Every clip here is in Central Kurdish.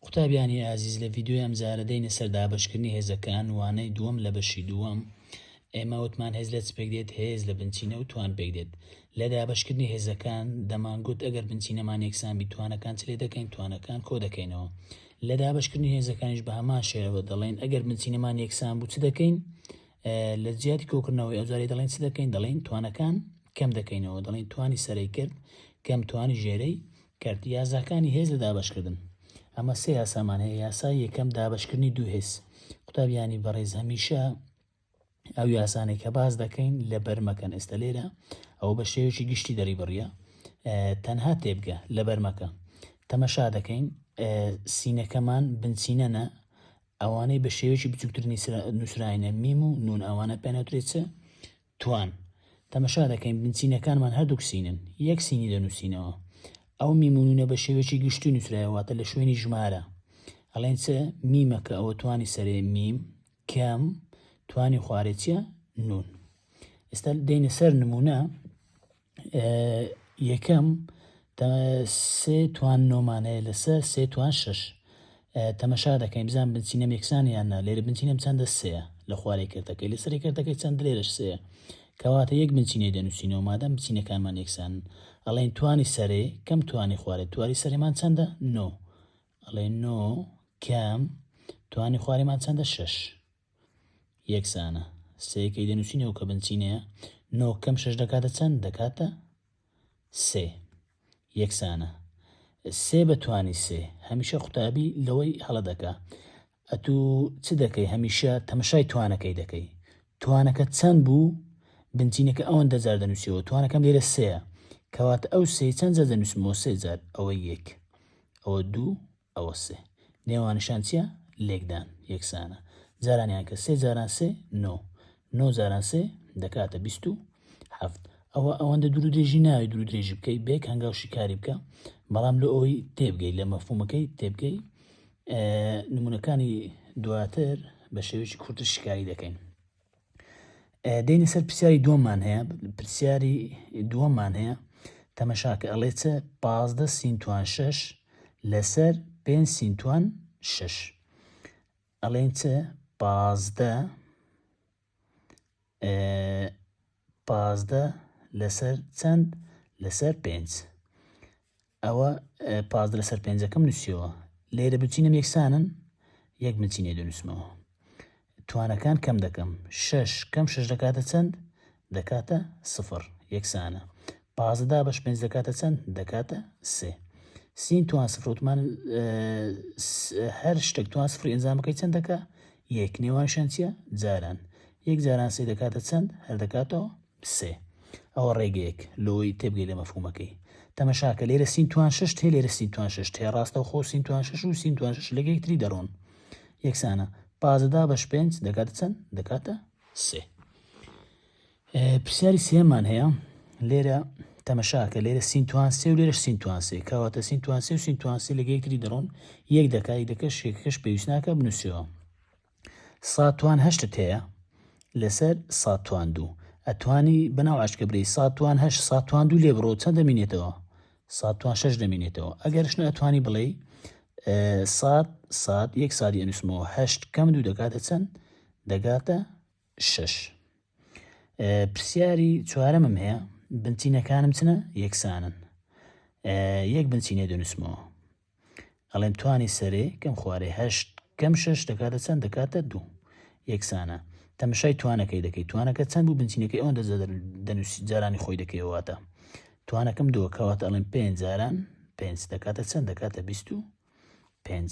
قوتابیانی ئازیز لە ڤیدیۆی ئەمجارە دێینە سەر دابەشکردنی هێزەکان وانەی دووەم لە بەشی دووەم ئێمە وتمان هێز لە چپێک دێت هێز لە بنچینە و توان پێک دێت لە دابەشکردنی هێزەکان دەمانگوت ئەگەر بنچینەمان یەکسان بی توانەکان چ لێ دەکەین توانەکان کۆ دەکەینەوە لە دابشکردنی هێزەکانیش بە هەمان شێوە دەڵێن ئەگەر بنچینەمان یەکسان بوو چ دەکەین لە جیاتی کۆکردنەوەی ئەوجاری دەڵێن چ دەکەین دەڵێن توانەکان کەم دەکەینەوە دەڵێن توانی سەرەی کرد کەم توانی ژێرەی کرد یاساکانی هێز لە دابەشکردن ئەمە سێ یاسامان هەیە یاسای یەکەم دابەشکردنی دوو هێز قوتابیانی بەڕێز هەمیشە ئەو یاسانەی کە باز دەکەین لە بەرمەکەن ئێستا لێرە ئەو بە شێوێکی گشتی دەری بڕە تەنها تێبگە لە بەرمەکە تەمەشا دەکەین سینەکەمان بنچینەنە ئەوانەی بە شێوێکی بچووترنی نووسراینە میم و نون ئەوانە پێنەوترێت چ توان، تەمەشا دەکەین بنچینەکانمان هەردووک سینن، یەک سینی دەنووسینەوە. ئەو میم و نوونە بە شێوەیەکی گشتی نووسرایە واتە لە شوێنی ژمارە ئەڵێن چ میمە کە ئەوە توانی سەرێ میم کەم توانی خوارێ چیە نوون. ئێستا دێینە سەر نموونە. یەکەم، سێ توان نۆمان هەیە لەسەر سێ توان شەش تەمەشا دەکەین بزان بنچینە مێکسان یان نا لێرە بنچینەم چەندە سەیە لە خوارەی کردەکەی لە سەری کردەکەی چەند لێرەش سەیە کەواتە یەک بنچینەی دەنووسینەوە مادەم بچینەکانمان یەکسان ئەڵێن توانی سەرێ کەم توانی خوارێ تواری سەرێمان چەندە نۆ ئەڵێ نۆ کەم توانی خوارێمان چەندە شەش یەکسانە. سێ کەی دەنووسینەوە کە بنچینەیە؟ نۆ کەم شەش دەکاتە چەند؟ دەکاتە سێ. یەکسانە. سێ بە توانی سێ هەمیشە قوتابی لەوەی هەڵە دەکا. ئەتوو چ دەکەی هەمیشە تەمەشای توانەکەی دەکەی. توانەکە چەند بوو؟ بنچینەکە ئەوەن دەجار دەنووسیەوە توانەکەم لێرە سەیە کەواتە ئەو سێ چەند جار دەنووسمەوە سێ جار ئەوە یەک ئەوە دوو ئەوە سێ. نێوانیشان چییە؟ لێکدان. یەکسانە. جارانیان کە سێ جاران سێ، نۆ. نۆ جاران سێ، دەکاتە بیست و حەفت. ئەوە ئەوەندە دوور و درێژی ناوێ دوور و درێژی بکەی بە یەک هەنگاو شیکاری بکە، بەڵام لۆ ئەوەی تێبگەی لە مەفهومەکەی تێبگەی نمونونەکانی دواتر بە شێوەیەکی کورتر شیکاری دەکەین. دێنە سەر پرسیاری دووەممان هەیە پرسیاری دووەممان هەیە تەمەشاکە ئەڵێ چ پازدە سینتوان شەش لەسەر پێ سینتوان شەش ئەڵێن چ پازدە پازدە لەسەر چەند لەسەر پێنج ئەوە پازدە لەسەر پێنجەکەم نووسیەوە لێرە بنچینەم یەکسانن یەک بنچینێ دەنووسمەوە توانەکان کەم دەکەم شش کەم شش دەکاتە چەند دەکاتە سفر یەکسانە پازدا بەش پێنج دەکاتە چەند دەکاتە سێ سین توان سفرۆتمان هەر شتێک توان سفری ئەنجامەکەی چەند دەکە یەک نێوان شەنچە جاران یەک جاران سێ دەکاتە چەند هەر دەکاتەوە سێ. ئەوە ڕێگەیەک لۆی تێبگەی لە مەفهومەکەی. تەمەشاکە لێرە سین توان شەشت هەیە لێرە سین توان شەشت هەیە ڕاستەوخۆ سین توان شەش و سین توان شەش لەگە یەکتری دەڕۆن یەکسانە پازدە بەش پێنج دەکاتە چەند دەکاتە سێ پرسیاری سێمان هەیە لێرە تەمەشاکە لێرە سینتوان سێ و لێرە سینتوان سێ کەواتە سینتوان سێ و سینتوان سێ لەگە یەکتری دەڕۆن یەک دەکای دەکە شێکەکەش پێویست ناکە بنووسەوە ساتوان هەشتت هەیە لەسەر ساتوان دوو ئەتوانی بەناو عشکە برێی ساتوان هەشت ساتوان دوو لێ بڕۆ چەند دەمینێتەوە ساتوان شەش دەمینێتەوە ئەگەرش نە ئەتوانی بڵێی سات سات یەک سادی ئەنووسمەوە هەشت کەم دوو دەکاتە چەند دەگاتە شەش پرسیاری چوارەمم هەیە بنچینەکانم چنە یەکسانن یەک بنچینێ دەنووسمەوە ئەڵێم توانی سەرێ کەم خوارێ هەشت کەم شەش دەکاتە چەند دەکاتە دوو یەکسانە تەمەشای توانەکەی دەکەی توانەکە چەند بوو بنچینەکەی ئەوەن دەنووسی جارانی خۆی دەکەواتە توانەکەم دووەکەواتە ئەڵێم پێنج جاران پێنج دەکاتە چەند دەکاتە بیست و پێنج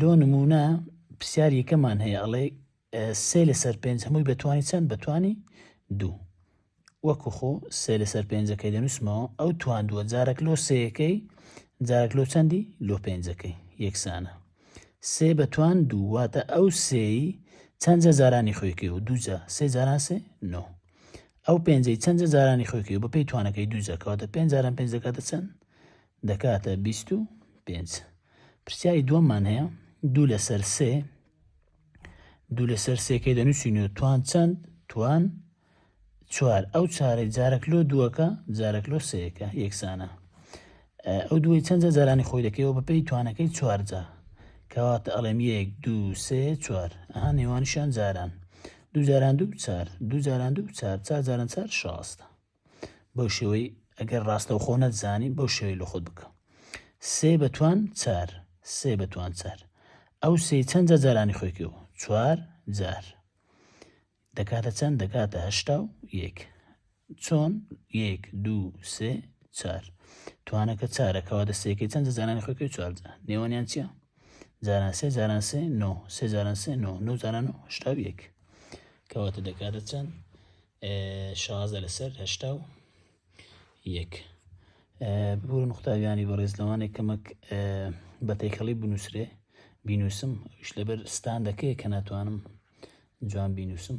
لۆ نمونە پرسیار یەکەمان هەیە ئەڵێ سێ لەسەر پێنج هەمووی بەتوانی چەند بەتوانی دوو وەکو خۆ سێ لەسەر پێنجەکەی دەنووسمەوە ئەو توان دووە جارێک لۆ سەیەکەی جارێک لۆ چەندی لۆ پێنجەکەی یەکسانە سێ بەتوان دوو واتە ئەو سێی چەندجە جارانی خۆیکەی و دووجە سێ جاران سێ نۆ ئەو پێنجەی چەندجە جارانی خۆیکەی و بەپی توانەکەی دووجەکەواتە پێنج جاران پێنج دەکاتە چەند دەکاتە بیست و پێنج. پرسیاری دووەممان هەیە، دوو لەسەر سێ دوو لەسەر سێکەی دەنووسینەوە توان چەند توان چوار ئەو چارەی جارەک لۆ دووەکە جارەک لۆ سەیەکە یەکسانە ئەو دوی چەندە جارانی خۆی دەکەیەوە بە پێی توانەکەی چوارجار کەواتە ئەڵێم یەک دو سێ چوار ئەها نێوانشان جاران دوو جاران دوو چار دوو جاران دوو چار چار جاران چار شاستە بەو شێوەی ئەگەر ڕاستەوخۆ نەتزانی بەو شێوەی لە خۆت بکە سێ بەتوان چار سێ بەتوان چار ئەو سێ چەند جارانی خۆی کرد چوار جار دەکاتە چەند دەکاتە هەشتا و یەک چۆن یەک دوو سێ چار توانەکە چارەکەەوە دەستێکی چەند جارانی خۆی کرد چوار نێوانیان چیە جاران سێ جاران سێ نۆ سێ جاران سێ نۆ نۆ جاران و هشتا و یەک کەواتە دەکاتە چەند شازە لەسەر هەشتا و یەک ببوورە نقطاویانی بەڕێز لەوانێک کەمەک بە تێکەڵی بنووسرێ بینوسم شت لەبەر ستان دەکەی کە ناتوانم جوان بینوسم